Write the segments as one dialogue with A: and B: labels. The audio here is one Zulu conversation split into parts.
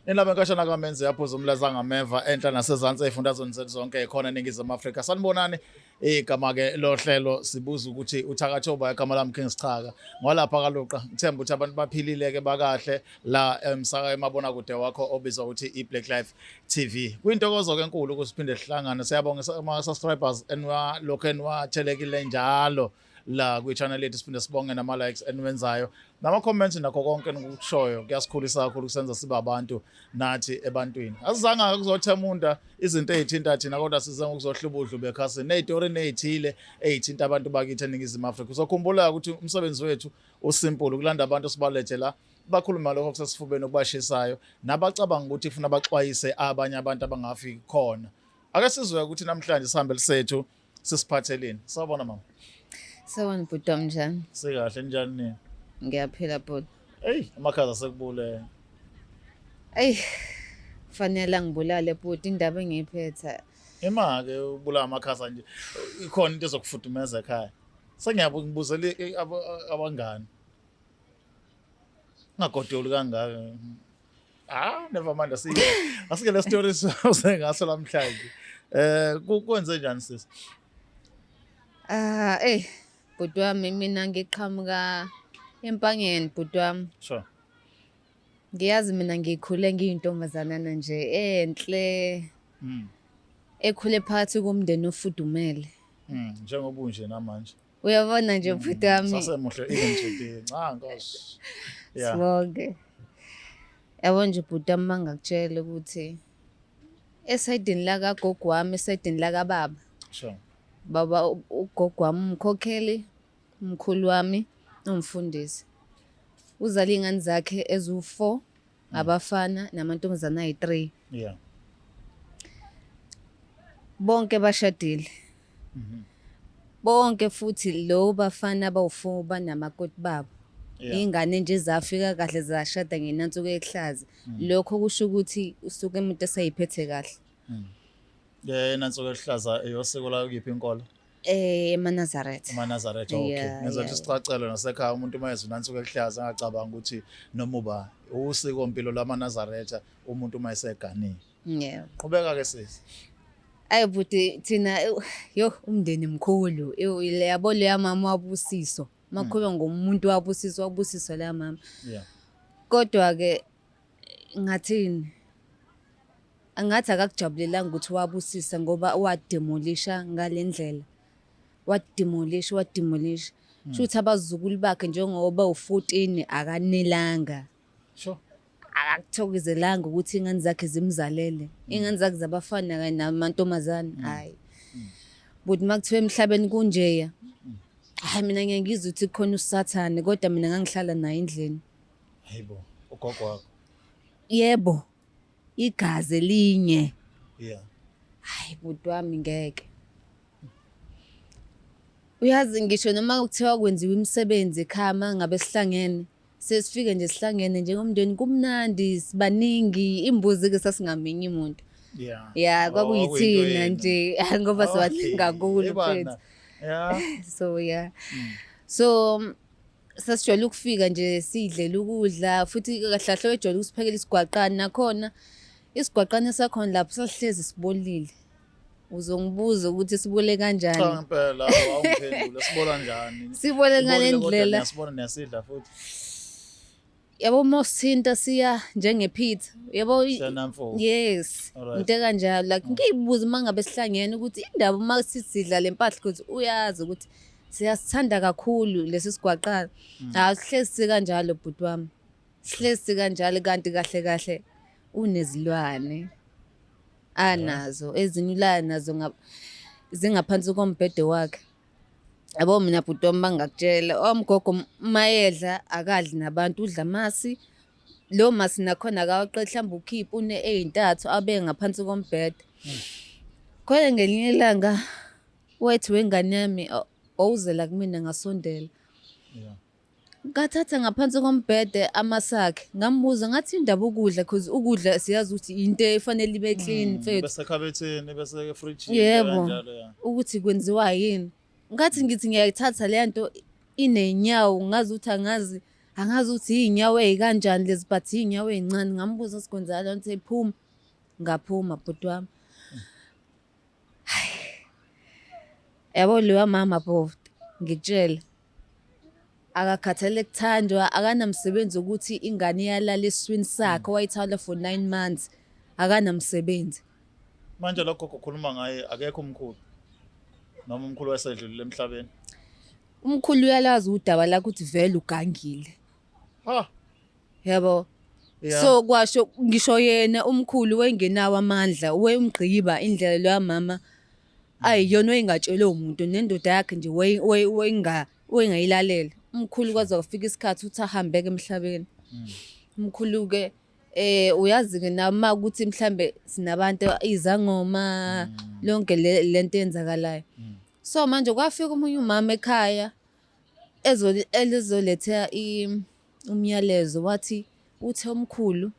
A: Nilaba inkashana kaMenze yaphuza umlaza ngameva enhla nasezansi ezifundazweni zethu zonke khona eNingizimu Afrika. Sanibonani igama ke lohlelo sibuza ukuthi uthakatshoba igama lami King Sichaka. Ngwalapha kaluqa ngithemba ukuthi abantu baphilile ke bakahle la emsaka emabona kude wakho obizwa ukuthi iBlack Life TV. Kwintokozo ke enkulu ukusiphinde sihlangane. Siyabonga ama subscribers enwa lokho enwa thelekile njalo. la kwi-channel lethu siphinde sibonge nama-likes eniwenzayo nama-comments nakho konke enikukushoyo kuyasikhulisa kakhulu kusenza sibe abantu nathi ebantwini asizanga kuzothemunda izinto ey'thinta thina kodwa size ngokuzohlubudlu bekhasini ney'tori ney'thile ey'thinta abantu bakithi eningizimu afrika uzokhumbula ukuthi umsebenzi wethu usimple ukulanda abantu sibalethe la bakhuluma lokho kusesifubeni okubashisayo nabacabanga ukuthi funa baxwayise abanye abantu abangafi khona ake sizwe ukuthi namhlanje sihambe lisethu Sisiphatheleni. Sawubona mama. Sawubona
B: bhuti wami njani? Sikahle njani nini?
A: Ngiyaphila bhuti.
B: Ey, amakhaza
A: sekubule.
B: Ey, fanele ngibulale bhuti indaba engiyiphetha. Imake
A: ubula amakhaza nje. Ikhona into ezokufudumeza ekhaya. Sengiyabuya ngibuzele abangani. Ngagodoli kangaka. Ah, never mind asike. Asike le story usengaso lamhlanje. Eh kwenze njani sisi? Ah,
B: eh bhuti wami mina ngiqhamuka empangeni bhuti wami. Sure. Ngiyazi mina ngikhule ngiyintombazanana nje enhle. Mm. Ekhule phakathi komndeni ofudumele. Mm, njengoba
A: unje namanje. uyabona nje bhuti
B: wami sasemuhle even today
A: cha nkosi sibonge
B: yabo nje bhuti wami mangakutshela ukuthi esayidini lakagogo wami esayidini lakababa sure
A: baba u-
B: ugogo wami umkhokheli umkhulu wami ungifundisi uzala iy'ngane zakhe eziwu-four ngabafana namantombazana ayi-three yeah bonke bashadile mhm. bonke futhi lo bafana abawufour banamakoti babo iy'ngane nje zafika kahle zashada ngenansuku ehlaza mm. lokho kusho ukuthi usuke umuntu esayiphethe kahle mm.
A: yena nsuku ehlaza eyosiko layo kuyiphi inkolo Eh eManazareth.
B: EManazareth okay.
A: Yeah, Ngizothe yeah. sicacele nasekhaya umuntu uma ezwe nansuku ekuhlaza angacabanga ukuthi noma uba usiko mpilo lamaNazaretha umuntu uma eseganile. Yeah. Qhubeka
B: ke sisi.
A: Ayi
B: buti thina ew, yo umndeni mkhulu ew, yabo leya mama wabusiso makhulwa ngomuntu wabusiso wabusiso la mama Yeah.
A: kodwa ke
B: Ngingathini? Angathi akakujabulelanga ukuthi wabusisa ngoba wademolisha ngale ndlela. Wademolisha, wademolisha. Hmm. Shuthi abazukulu bakhe njengoba u-14 akanelanga. Sure.
A: Akakuthokozelanga
B: ukuthi ingane zakhe zimzalele. Hmm. Ingane zakhe zabafana kanye namantombazane. Hmm. Hayi. Buti makuthiwa emhlabeni kunjeya. Hayi mina ngiyangizwa ukuthi khona usathane kodwa mina ngangihlala naye endlini. Hayibo,
A: ugogo wakho. Yebo.
B: Igazi linye. Yeah.
A: Hayi
B: bhuti wami ngeke. Uyazi ngisho noma kuthiwa kwenziwa imisebenzi ekhaya uma ngabe sihlangene sesifike nje sihlangene njengomndeni kumnandi sibaningi imbuzi-ke sasingaminyi muntu ya ya oh,
A: kwakuyithina
B: nje ngoba sibaningi kakhulu mfethu
A: so ya
B: hmm. so sasijwayele ukufika nje sidlela ukudla futhi kahlahle wejwayele ukusiphekela isigwaqane nakhona isigwaqane sakhona lapho sasihlezi sibolile uzongibuza ukuthi sibole kanjani cha ngempela awungiphendule
A: sibola njani sibole ngale ndlela
B: sibona nesidla
A: futhi
B: yabo uma usithinta siya njengephitha yabo yes into ekanjalo like ngiyibuza uma ngabe sihlangene ukuthi indaba uma sisidla le mpahla ukuthi uyazi ukuthi siyasithanda kakhulu lesi sigwaqana mm. hawu sihlezi sikanjalo bhuti wami sihlezi sikanjalo kanti kahle kahle unezilwane anazo ezinye ulaya nazo zingaphansi kombhede wakhe yabo mina bhuti wami bangakutshela omgogo oh, mayedla akadli nabantu udla masi lo masi nakhona akawaqedi mhlawumbe ukhiphe une ey'ntathu abe ngaphansi kombhede khona ngelinye ilanga wethu wengane yami owuzela kumina ngasondela
A: Ngathatha
B: ngaphansi kombhede amasakhe ngambuza ngathi indaba ukudla cause ukudla siyazi ukuthi into efanele ibe clean hmm, mfethu. Besekhabetheni
A: bese fridge yebo
B: ukuthi kwenziwa yini. Ngathi ngithi ngiyayithatha le nto inenyawo ngazi ukuthi angazi angazi ukuthi iy'nyawo ey'kanjani lezi but iy'nyawo ey'ncane ngambuza sikwenzala nto ephuma ngaphuma bhuti wami yabo lewa mama bhovti ngikutshele akakhathele kuthandwa akanamsebenzi ukuthi ingane iyalala eswini sakhe wayithawula for nine months akanamsebenzi manje
A: lokho kukhuluma ngaye akekho umkhulu noma umkhulu wayesedlulile emhlabeni umkhulu
B: uyalazi udaba lakho ukuthi vele ugangile ha
A: yabo
B: Yeah. so kwasho ngisho yena umkhulu wayengenawo amandla wayemgqiba indlela loya mama ayi yona wayingatshelwe umuntu nendoda yakhe nje wayengayilalela umkhulu kwaze kwafika isikhathi ukuthi ahambeke emhlabeni hmm. umkhulu-ke eh uyazi-ke nama ukuthi mhlambe sinabantu izangoma hmm. lonke lento eyenzakalayo hmm. so manje kwafika omunye umama ekhaya ezoletha umyalezo wathi uthe umkhulu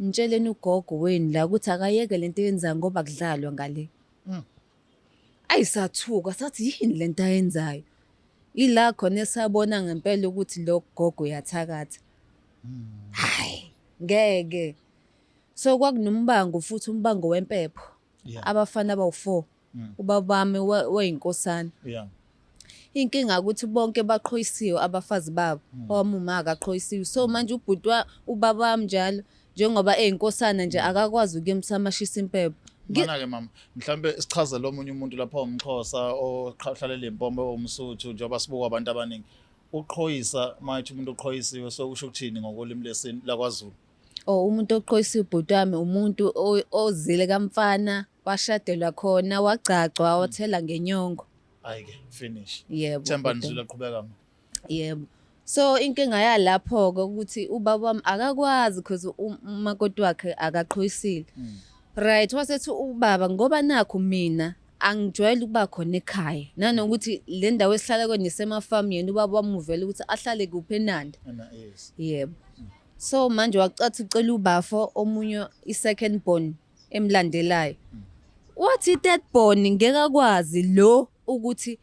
B: ngitsheleni ugogo wenu la ukuthi akayeke lento eyenzayo ngoba kudlalwa ngale Mm. ayi sathuka sathi yini lento ayenzayo ila khona esabona ngempela ukuthi lo gogo uyathakatha hayi ngeke so kwakunombango futhi umbango wempepho Yeah. abafana abawu-four mm. ubaba wami wayinkosana yeah inkinga ukuthi bonke baqhoyisiwe abafazi babo mm. owamuma akaqhoyisiwe so manje ubhuti ubaba wami njalo njengoba eyinkosana nje akakwazi ukuyemisa amashisa impepho Mana-ke mama
A: mhlawumbe sichazele omunye umuntu lapha umxhosa ohlala lempombe omsuthu njengoba sibuka abantu abaningi uqhoyisa mayithi umuntu uqhoyisiwe so kusho ukuthini ngokolimi lesintu lakwaZulu or oh, umuntu
B: oqhoyisa ubhuti wami umuntu ozile kamfana washadelwa khona wagcagcwa hmm. wathela ngenyongo ayike
A: finish yebo themba nizula
B: qhubeka
A: ma yebo
B: so inkinga yalapho ke ukuthi ubaba wami akakwazi because umakoti wakhe akaqhoyisile hmm. right wasethi ubaba ngoba nakho mina angijwayele ukuba khona ekhaya nanokuthi le ndawo esihlala kuyona isemafamu yena ubaba wamuvela ukuthi ahlale kuphi enanda yebo So manje wacathi ucela ubafo omunye i-second born emlandelayo. Wathi i-third born ngeke akwazi lo ukuthi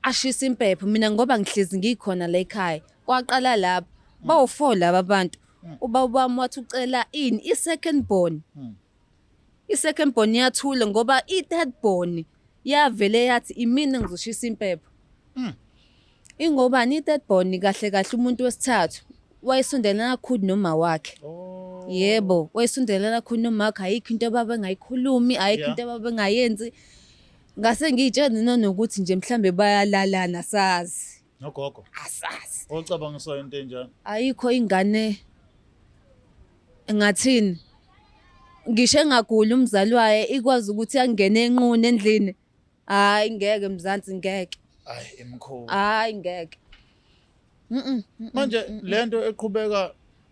B: ashise impepho mina ngoba ngihlezi ngikhona la ekhaya. Kwaqala lapho bawu-four laba bantu. Ubaba wami wathi ucela ini i-second born. I-second born yathula ngoba i-third born yavele yathi imina ngizoshisa impepho. Mm. Ingobani i-third born kahle kahle umuntu wesithathu wayesondelana kakhulu noma wakhe. Oh. Yebo, wayesondelana kakhulu noma wakhe ayikho into ababe ngayikhulumi, ayikho yeah. into ababe ngayenzi. Ngase ngiyitshela nanokuthi nje mhlambe bayalalana sazi. nogogo
A: asazi
B: ocabanga so into
A: enjani ayikho ingane
B: ngathini ngisho engaguli umzali waye ikwazi ukuthi angene enquni endlini hayi ngeke mzansi ngeke hayi emkhulu
A: hayi ngeke manje lento eqhubeka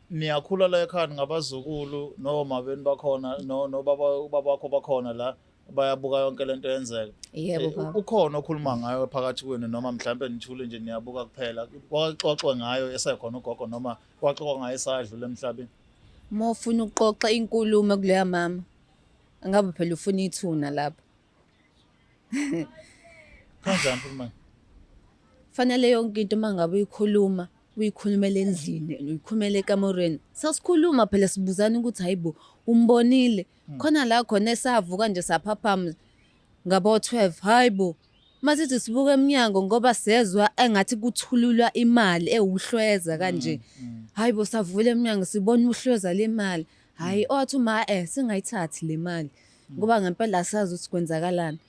A: niyakhula la ekhaya ngabazukulu noma beni bakhona no baba bakho bakhona la bayabuka yonke lento yenzeka yebo eh, baba ukhona
B: okhuluma ngayo
A: phakathi kwenu noma mhlawumbe nithule nje niyabuka kuphela kwaxoxwe ngayo esekhona ugogo noma kwaxoxwa ngayo esadlule emhlabeni uma ufuna
B: ukuxoxa inkulumo kuleya mama angabe phela ufuna ithuna lapho
A: kanjani mfumane
B: fanele yonke into uma ngabe uyikhuluma uyikhulumela endlini uyikhulumela ekamerweni sasikhuluma phela sibuzana ukuthi hayibo umbonile Hmm. khona la khona esavuka nje saphaphama ngabo-12 hhayi bo masithi sibuka emnyango ngoba sezwa engathi kuthululwa imali ewuhlweza hmm, kanje hmm. hhayi bo savula emnyango sibona uhlweza le mali hhayi owathi uma e singayithathi le mali ngoba ngempela sazi ukuthi kwenzakalani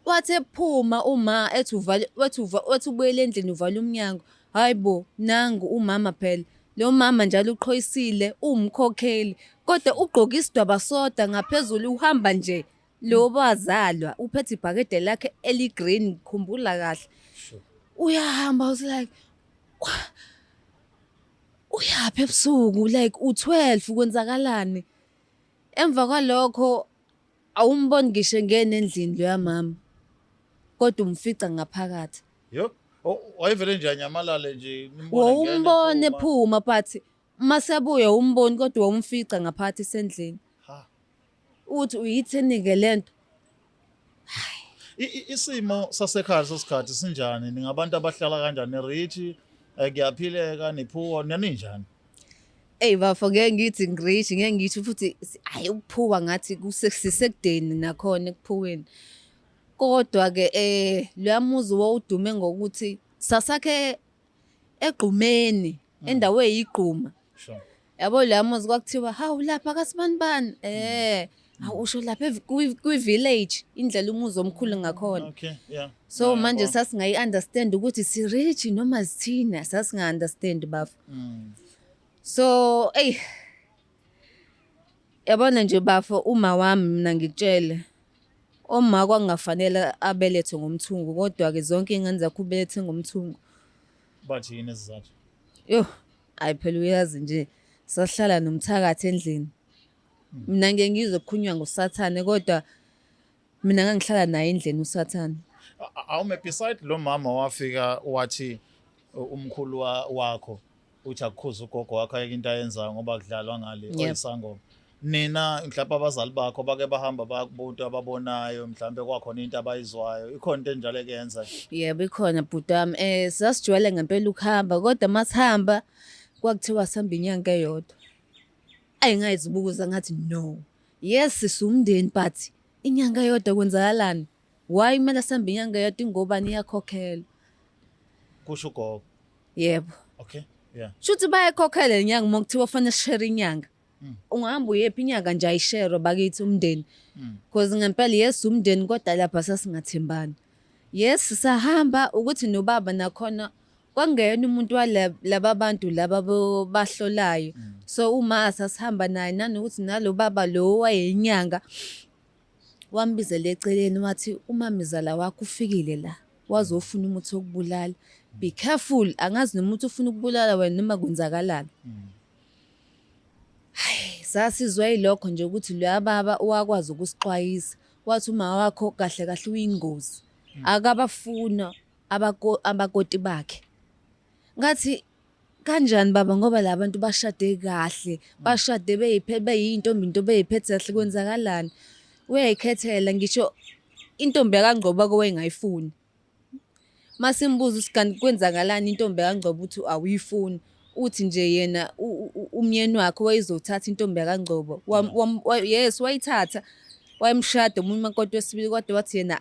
B: Wathi ephuma uma ethi uvale wathi uva wathi ubuyela endlini uvala umnyango. Hayibo nangu umama phela. Lo mama njalo uqhoyisile uwumkhokheli kodwa ugqoke isidwaba soda ngaphezulu uhamba nje. Lo bazalwa uphethe ibhakede lakhe eligreen khumbula kahle. Uyahamba was like "Wah, uyaphi ebusuku like u12 kwenzakalani? Emva kwalokho awumboni ngisho engena endlini loya mama kodwa umfica ngaphakathi Yo.
A: o- Wayevele nje anyamalale nje. nimbone engena, wawumbona ephuma. ephuma
B: but uma sebuya wawumboni kodwa wawumfica ngaphakathi esendlini Ha. uthi uyithini-ke le nto
A: isimo sasekhaya sesikhathi sinjani ningabantu abahlala kanjani rich eh, kuyaphileka niphuwa naninjani Ey
B: bafo ngeke ngithi ngirich ngeke ngithi futhi hayi ukuphuka ngathi kusesekudeni nakhona ekuphuweni kodwa ke eh loyamuzi wawudume ngokuthi sasakhe egqumeni mm. endawo eyigquma sure yabo
A: la muzi
B: kwakuthiwa hawu lapha kasibanibani eh hawu usho lapha kwi-village indlela umuzi omkhulu ngakhona okay
A: yeah so manje
B: sasingayi-understand ukuthi si-rich noma sithina sasinga-understand bafo mm. so eyi Yabona nje bafo uma wami mina ngikutshele uma kwakungafanele abelethe ngomthungo kodwa-ke zonke iy'ngane zakho ubelethe ngomthungo. Bathi
A: yini isizathu? Yho, hhayi
B: phela uyazi nje sahlala nomthakathi endlini. Mina ngiye ngizwe kukhulunywa ngosathane kodwa Mina ngangihlala naye endlini uSathane. Awume
A: beside lo mama wafika wathi umkhulu wakho uthi akukhuza ugogo wakho ayeke into ayenzayo ngoba kudlalwa ngale oyisangoma. Nina mhlawumbe abazali bakho bake bahamba bakubuntu ababonayo mhlawumbe kwakhona into abayizwayo ikhona into enjalo ekuyenza. Yebo ikhona
B: bhuti wami eh sasijwayele ngempela ukuhamba kodwa masihamba kwakuthiwa sihamba inyanga eyodwa. Ayi ngayizibukuza ngathi no. Yes sisumndeni but inyanga yodwa kwenzakalani? Why kumele sihambe inyanga yodwa ingobani iyakhokhelwa?
A: Kusho ugogo. Yebo.
B: Okay. Yeah.
A: Shuthi bayakhokhela
B: inyanga uma kuthiwa fanele share inyanga. Mm. Ungahamba uyephi inyanga nje ayisherwe bakithi umndeni. Mm. Because ngempela yes umndeni kodwa lapha sasingathembani. Yes sahamba ukuthi nobaba nakhona kwakungeyena umuntu walaba bantu laba bahlolayo mm. so uma sasihamba naye nanokuthi nalo baba lo wayeyinyanga wambizela eceleni wathi umamizala wakho ufikile la wazofuna umuthi wokubulala be careful angazi nomuntu ufuna ukubulala wena noma kwenzakalani mm. hayi sasizwa yilokho nje ukuthi loya baba wakwazi ukusixwayisa Wathi uma wakho kahle kahle uyingozi. Hmm. Akabafuna abako abakoti bakhe. Ngathi kanjani baba ngoba labantu bashade kahle, hmm. bashade beyiphe beyintombi into beyiphethe kahle kwenzakalani? Uyayikhethela ngisho intombi yakangqoba kowayengayifuni. masimbuza ukuthi kanti kwenzakalani intombi yakangcobo ukuthi awuyifuni uthi nje yena umyeni wakhe wayezothatha intombi yakangcobo yes wayithatha wayemshada omunye umakoti wesibili kodwa wathi yena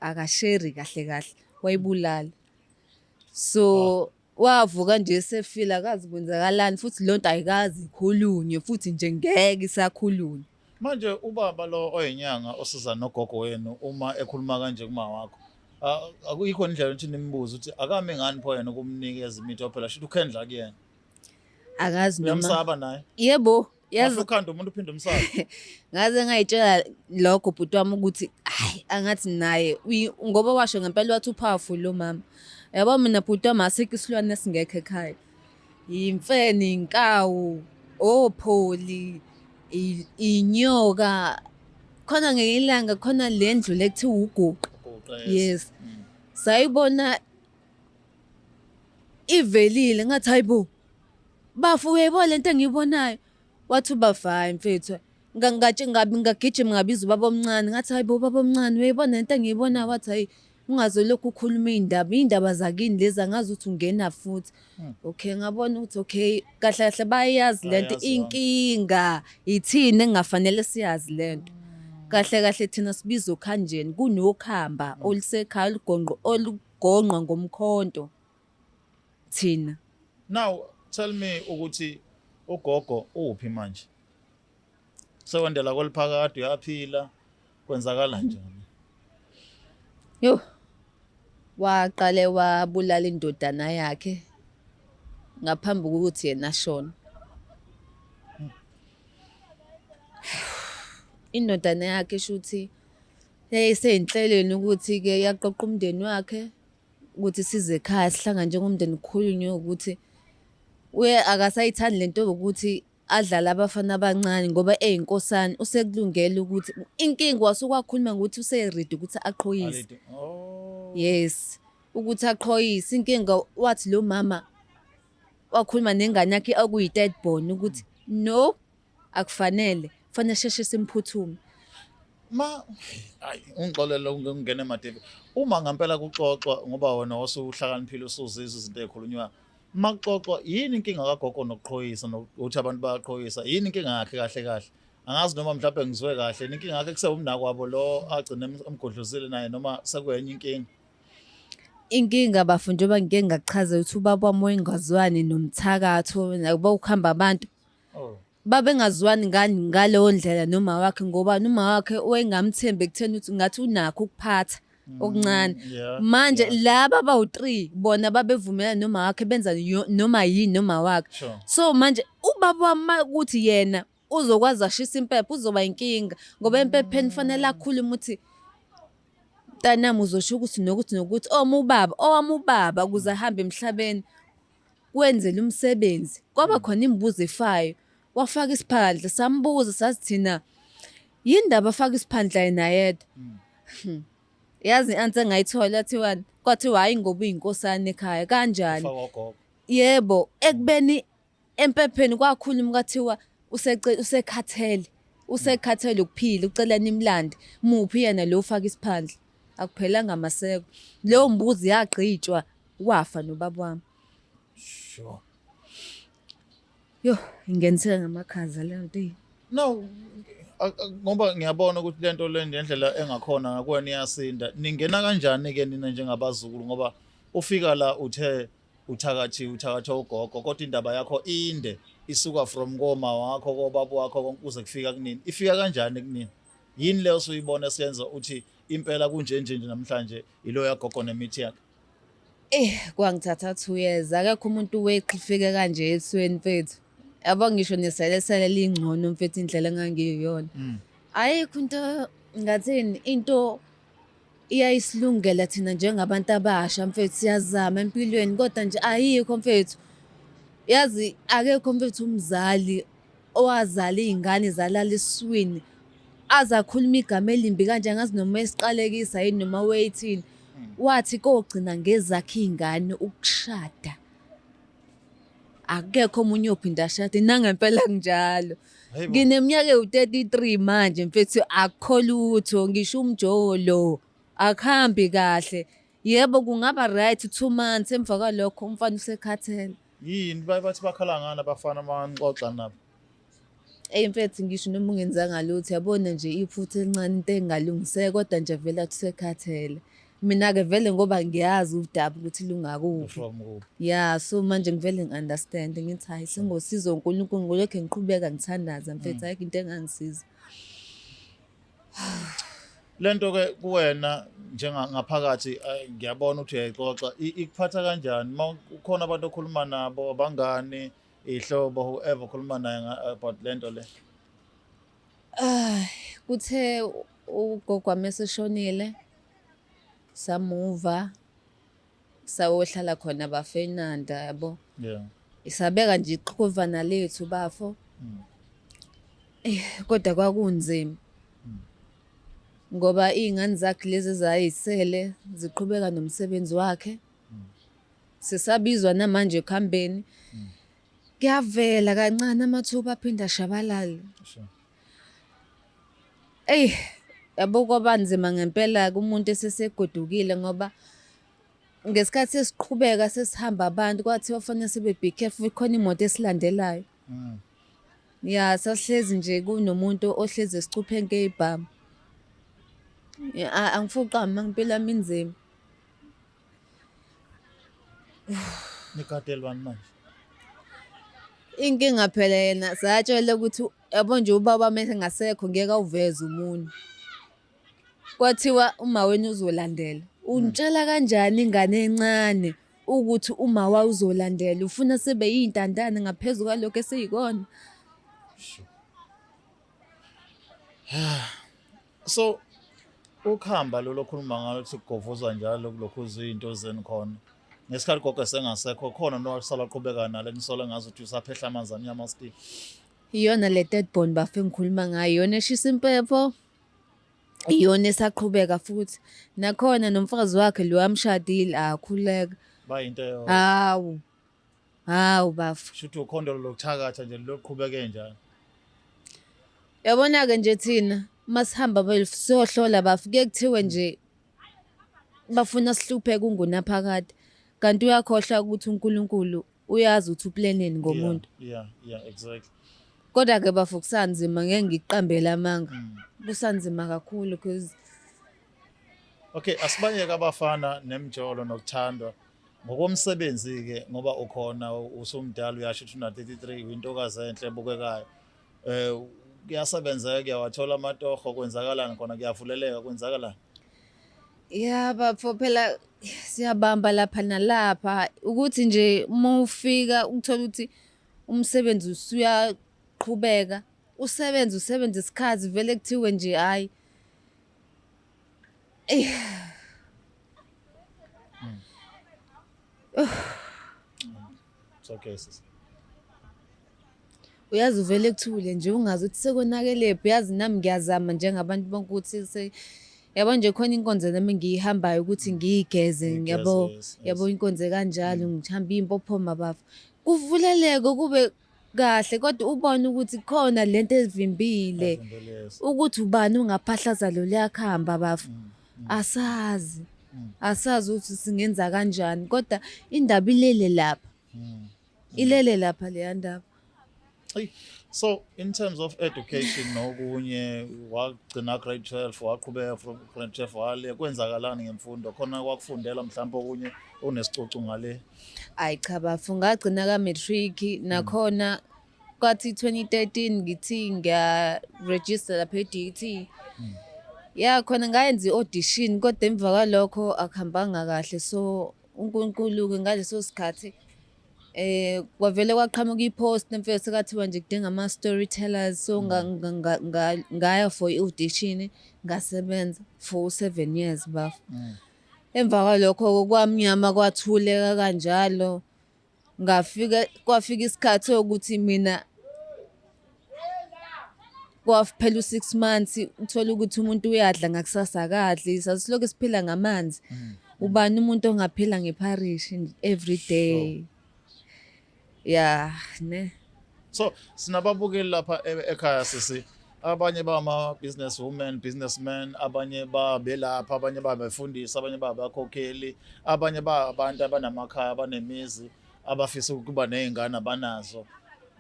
B: akasheri kahle kahle wayibulala so Wavuka nje esefile akazi kwenzakalani futhi le nto ayikaze ikhulunywe futhi nje ngeke isakhulunywe. Manje ubaba
A: lo oyinyanga osiza nogogo wenu uma ekhuluma kanje kuma wakho ah, akuyikho indlela ukuthi nimbuze ukuthi akami ngani pho yena ukumnikeza imithi ophela shuthi ukhendla kuyena akazi
B: noma uyamsaba naye yebo
A: yazi
B: ukhanda umuntu uphinde umsaka
A: ngaze
B: ngayitshela lokho bhuti wami ukuthi hayi angathi naye ngoba washo ngempela wathi upowerful lo mama yabo mina bhuti wami asikho isilwane esingekho ekhaya yimfene inkawu opholi inyoka khona ngelinye ilanga khona le ndlu le kuthiwa uguqa yes mm. sayibona ivelile ngathi hayibo Bafo uyayibona lento engiyibonayo. Wathi ubafo hhayi mfethu. Nga- ngatshe- ngabi- Ngagijima ngabiza ubaba omncane ngathi hayi bo ubaba omncane uyayibona lento engiyibonayo wathi hhayi ungaze lokhu ukhuluma iy'ndaba iy'ndaba zakini lezi angazi ukuthi ungena futhi. Okay ngabona ukuthi okay kahle kahle bayayazi lento Bayayazi, inkinga yithini engafanele siyazi lento. Kahle kahle thina sibiza okhanjeni kunokhamba olusekhaya olugonqo olugonqwa ngomkhonto. thina now
A: tell me ukuthi ugogo uphi manje sewendela kweliphakade uyaphila kwenzakala njani
B: yo waqale wabulala indodana yakhe ngaphambi kokuthi yena ashone indodana yakhe shuthi yayiseyinhlelweni ukuthi-ke yaqoqa umndeni wakhe ukuthi size ekhaya sihlangane njengomndeni kukhulunywe ukuthi uye akasayithandi le nto yokuthi adlale abafana abancane ngoba eyinkosana usekulungele ukuthi inkinga wasuke wakhuluma ngokuthi useredi ukuthi aqhoyise oh. yes ukuthi aqhoyise inkinga wathi lo mama wakhuluma nengane yakhe okuyi-third born ukuthi no Akufanele, kufanele sheshe simphuthume. Ma
A: hayi ungixolele ungene emadebe. Uma ngempela kuxoxwa ngoba wena wasuhlakaniphile usuzizwa izinto ezikhulunywa. Makuxoxwa yini inkinga kagogo nokuqhoyisa nokuthi abantu bayaqhoyisa? Yini inkinga yakhe kahle kahle? Angazi noma mhlawumbe ngizwe kahle inkinga yakhe kusewumnakwabo lo agcine emgodlozile naye noma sekuyenye inkinga.
B: Inkinga bafo njengoba ngike ngakuchaza ukuthi ubaba wami wayengazwani nomthakathi nakuba kuhamba abantu. Oh.
A: babengazwani
B: ngani ngaleyo ndlela noma wakhe ngoba noma wakhe wayengamthembi ekutheni ukuthi ngathi unakho ukuphatha okuncane Mm, yeah, manje yeah. laba bawu-3 bona babevumelana noma wakhe benza yo- noma yini noma wakhe Sure. so manje ubaba wami ukuthi yena uzokwazi ashisa impepha uzoba inkinga ngoba empepheni kufanele akhulume ukuthi mntanami uzosho ukuthi nokuthi nokuthi owami ubaba owami ubaba ukuze ahambe emhlabeni kwenzela umsebenzi kwaba mm. khona imibuzo efayo wafaka isiphandla sambuza sathi thina yini ndaba afaka isiphandla yena yedwa mm. hmm. yazi i-answer engayithola thiwani kwathiwa hhayi ngoba uyinkosana ekhaya kanjani yebo ekubeni empepheni kwakhuluma kwathiwa usekhathele usekhathele ukuphila ucela nimlande muphi yena lo ufaka isiphandla akuphelanga maseko leyo mbuzi yagqitshwa wafa nobaba wami
A: sure
B: yo ingeniseka ngamakhaza leyo nto no
A: ngoba ngiyabona ukuthi lento le ngendlela engakhona ngakwena iyasinda ningena kanjani ke nina njengabazukulu ngoba ufika la uthe uthakathi uthakathi ugogo kodwa indaba yakho inde isuka from koma wakho kobaba wakho kuze kufika kunini ifika kanjani kunini yini leyo suyibona senza uthi impela kunje nje nje namhlanje ilo yagogo nemithi yakhe Eh
B: kwangithatha 2 years akekho umuntu weqhifike kanje esweni mfethu. Yabo ngisho neselesele lingcono mfethu indlela engangiyona. Mm. Ayikho into ngathini into iyayisilungela thina njengabantu abasha mfethu siyazama empilweni kodwa nje ayikho mfethu yazi akekho mfethu umzali owazala iy'ngane zalala esiswini aze akhulume igama elimbi kanje angazi noma esiqalekisa yini noma weyithini wathi kogcina ngezakhe iy'ngane ukushada akekho omunye ophinde ashade nangempela kunjalo ngineminyaka ewu-33 manje mfethu akukho lutho ngisho umjolo akuhambi kahle yebo kungaba right two months emva kwalokho umfana usekhathele yini bathi
A: bakhala ngani abafana manixoxa nabo Eyi
B: mfethu ngisho noma ungenzanga lutho yabona nje iphutha elincane into engalungiseka kodwa nje vele athi usekhathele. Mina-ke vele ngoba ngiyazi udaba ukuthi lungakuphi. From kuphi? Ya so manje ngivele ngi-understand ngithi hhayi sengosiza uNkulunkulu ngolokhe ngiqhubeka ngithandaza mfethu Mm. ayikho into engangisiza.
A: Lento ke kuwena njengangaphakathi eh, ngiyabona ukuthi uyayixoxa I- ikuphatha kanjani uma kukhona abantu okhuluma nabo abangani ihlobo whoever ukhuluma naye about lento le ay
B: kuthe ugogo wami eseshonile samuva sawohlala khona bafenanda yabo yeah
A: isabeka nje
B: iqhuvana lethu bafo mm. eh kodwa kwakunzima mm. ngoba izingane zakhe lezi zayisele ziqhubeka nomsebenzi wakhe sisabizwa namanje ekuhambeni kuyavela kancane amathuba aphinde ashabalale eyi yabo kwaba nzima ngempela kumuntu esesegodukile ngoba ngesikhathi sesiqhubeka sesihamba abantu kwathi bafanele sibe be careful ikhona imoto esilandelayo mm. ya sasihlezi nje kunomuntu ohlezi esicupheni keyibhamu angifuni uqamba impilo yami inzima
A: Nikadelwani manje. Inkinga
B: phela yena satshela ukuthi yabo nje ubaba mese ngasekho ngeke awuveze umunyu. Kwathiwa uma wena uzolandela. Ungitshela kanjani ingane encane ukuthi uma wa uzolandela ufuna sibe yintandane ngaphezulu kwalokho esiyikona.
A: so ukhamba lolo khuluma ngalo ukuthi kugovuzwa njalo kulokhu izinto zeni khona ngesikhathi gogo sengasekho khona nowasala qhubeka nalo ngisola ngazi ukuthi usaphehla amanzi amnyama still iyona le
B: third born bafe ngikhuluma ngayo iyona eshisa impepho iyona esaqhubeka futhi nakhona nomfazi wakhe lo amshadile akhuleka bayinto yona
A: hawu Hawu
B: bafo. Shuthi ukhondo lokuthakatha
A: nje
B: loqhubeke
A: njalo. Yabona-ke
B: nje
A: thina uma
B: sihamba bafo siyohlola bafo kuye kuthiwe nje bafuna sihlupheke ungunaphakade kanti uyakhohlwa ukuthi uNkulunkulu uyazi ukuthi uplaneni ngomuntu. Yeah, yeah,
A: exactly. Kodwa ke
B: bafo kusanzima ngeke ngikuqambele amanga. Mm. Kusanzima kakhulu because
A: Okay, asibayeke abafana nemjolo nokuthandwa. ngokomsebenzi-ke ngoba ukhona usumdala uyasho ukuthi una-33 uyintokazi enhle ebukekayo um kuyasebenzeka kuyawathola amatoho kwenzakalani khona kuyavuleleka kwenzakalani
B: ya bafo phela siyabamba lapha nalapha ukuthi nje uma ufika ukuthola ukuthi umsebenzi usuyaqhubeka usebenze usebenze isikhathi vele kuthiwe nje hhayi
A: It's okay sisi.
B: uyazi uvele kuthule nje ungazi ukuthi sekonakelephi uyazi nami ngiyazama njengabantu bonke ukuthi se yabo nje khona inkonzo nami ngiyihambayo ukuthi ngiyigeze Ngigeze, ngiyabo yes, yes. yabo inkonzo kanjalo ngihamba iy'mpophoma bafo kuvuleleke kube kahle kodwa ubone ukuthi khona lento evimbile ukuthi ubani ungaphahlaza lo liyakuhamba bafo mm, mm. asazi mm. asazi ukuthi singenza kanjani kodwa indaba ilele lapha ilele lapha leya ndaba
A: so in terms of education nokunye wagcina grade 12 waqhubeka from grade 12 wale kwenzakalani ngemfundo khona kwakufundela mhlawumbe okunye onesicoco ngale Hayi cha bafu
B: ngagcina ka matric nakhona kwathi 2013 ngithi ngiya register lapha eDT. Ya khona ngayenza i-audition kodwa emva kwalokho akuhambanga kahle so uNkulunkulu ke ngaleso sikhathi eh kwavele kwaqhamuka i-post emfeke sekathiwa nje kudinga ama storytellers so nga- nga- nga- nga- ngaya for i-audition ngasebenza for 7 years bafu. Emva kwalokho kwamnyama kwathuleka kanjalo ngafika kwafika isikhathi sokuthi mina kwaphela u-six months uthole ukuthi umuntu uyadla ngakusasa akadli sasiloke siphila ngamanzi mm. ubani umuntu ongaphila ngepharishi every day Yeah, ne. So
A: sinababukeli lapha e-, ekhaya sisi abanye bama business women businessmen abanye babelapha abanye babefundisa abanye babakhokheli abanye ba abantu abanamakhaya abanemizi abafisa ukuba nezingane abanazo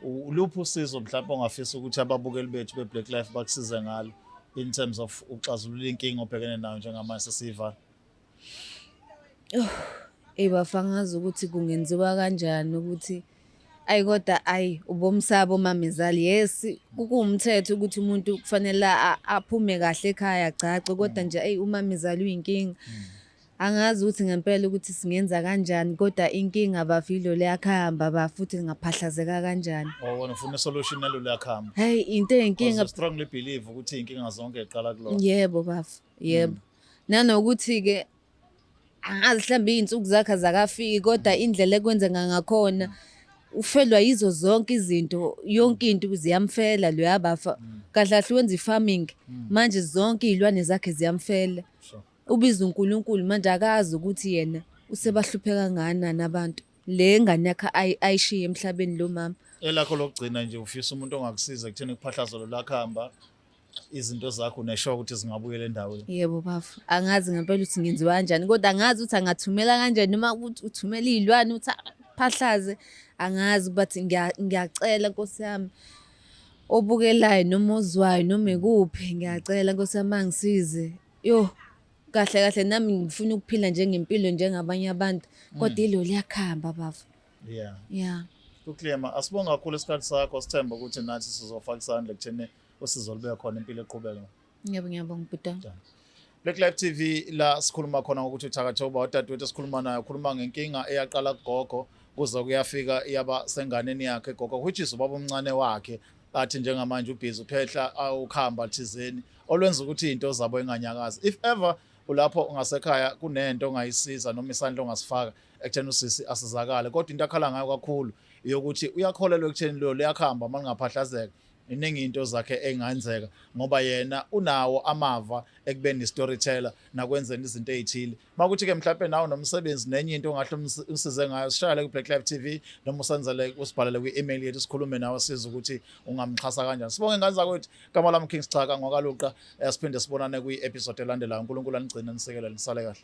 A: uluphi usizo mhlawumbe ongafisa ukuthi ababukeli bethu be-black life bakusize ngalo in terms of uxazulula inkinga obhekene nayo njengamanje sesiyivala Oh,
B: eyi bafangazi ukuthi kungenziwa kanjani ukuthi ayi kodwa ayi ubomsaba omamezali yes kuwumthetho ukuthi umuntu kufanele aphume kahle ekhaya agcagce kodwa mm. nje ayi umamezali uyinkinga mm. angazi ukuthi ngempela ukuthi singenza kanjani kodwa inkinga bavilo liyakhamba ba futhi ngaphahlazeka kanjani oh wena ufuna solution
A: nalo liyakhamba hey into eyinkinga
B: strongly believe ukuthi
A: inkinga zonke iqala kulona yebo bafu
B: yebo mm. Nanokuthi-ke angazi mhlawumbe iy'nsuku zakhe azakafiki kodwa indlela ekwenzeka ngakhona ufelwa yizo zonke izinto yonke into ziyamfela loya bafa kahle kahle wenza i-farming manje zonke iy'lwane zakhe ziyamfela ubiza unkulunkulu manje akazi ukuthi yena usebahluphe kangakanani abantu le ngane yakhe ayishiye emhlabeni lo mama elakho lokugcina
A: nje ufisa umuntu ongakusiza ekutheni kuphahlazo lolakho hamba izinto zakho uneshoka ukuthi zingabuyela endaweni yebo bafo
B: angazi ngempela ukuthi ngenziwa kanjani kodwa angazi ukuthi angathumela kanjani noma ukuthi uthumela iy'lwane ukuthi aphahlaze angazi but ngiyacela nkosi yami obukelayo noma ozwayo noma ikuphi ngiyacela nkosi yami angisize yo kahle kahle nami ngifuna ukuphila njengempilo njengabanye abantu kodwa mm. ilo liyakhamba bafo yeah yeah uklema
A: asibonga kakhulu isikhathi sakho sithemba ukuthi nathi sizofaka isandla kuthene usizo lube khona impilo eqhubeka ngiyabonga ngiyabonga bhuta
B: Black Life
A: TV la sikhuluma khona ngokuthi uthakathoba odadewethu esikhuluma naye ukhuluma ngenkinga eyaqala kugogo kuze kuyafika yaba senganeni yakhe gogo which is ubaba omncane wakhe athi njengamanje ubhizi uphehla ukhamba thizeni olwenza ukuthi into zabo inganyakazi if ever ulapho ungasekhaya kunento ongayisiza noma isandla ongasifaka ekutheni usisi asizakale kodwa into akhala ngayo kakhulu yokuthi uyakholelwa ekutheni lo liyakhamba uma lingaphahlazeka iningi into zakhe engayenzeka ngoba yena unawo amava ekubeni istoryteller nakwenzeni izinto ezithile makuthi ke mhlawumbe nawo nomsebenzi nenye into ongahle umsize ngayo sishayele ku Black Life TV noma usenzele usibhalele kwi-email yethu sikhulume nawe size ukuthi ungamxhasa kanjani sibonge ngane zakwethu kama lami King Sichaka ngokaluqa eh, siphinde sibonane kwi-episode elandelayo uNkulunkulu anigcine nisekele nisale kahle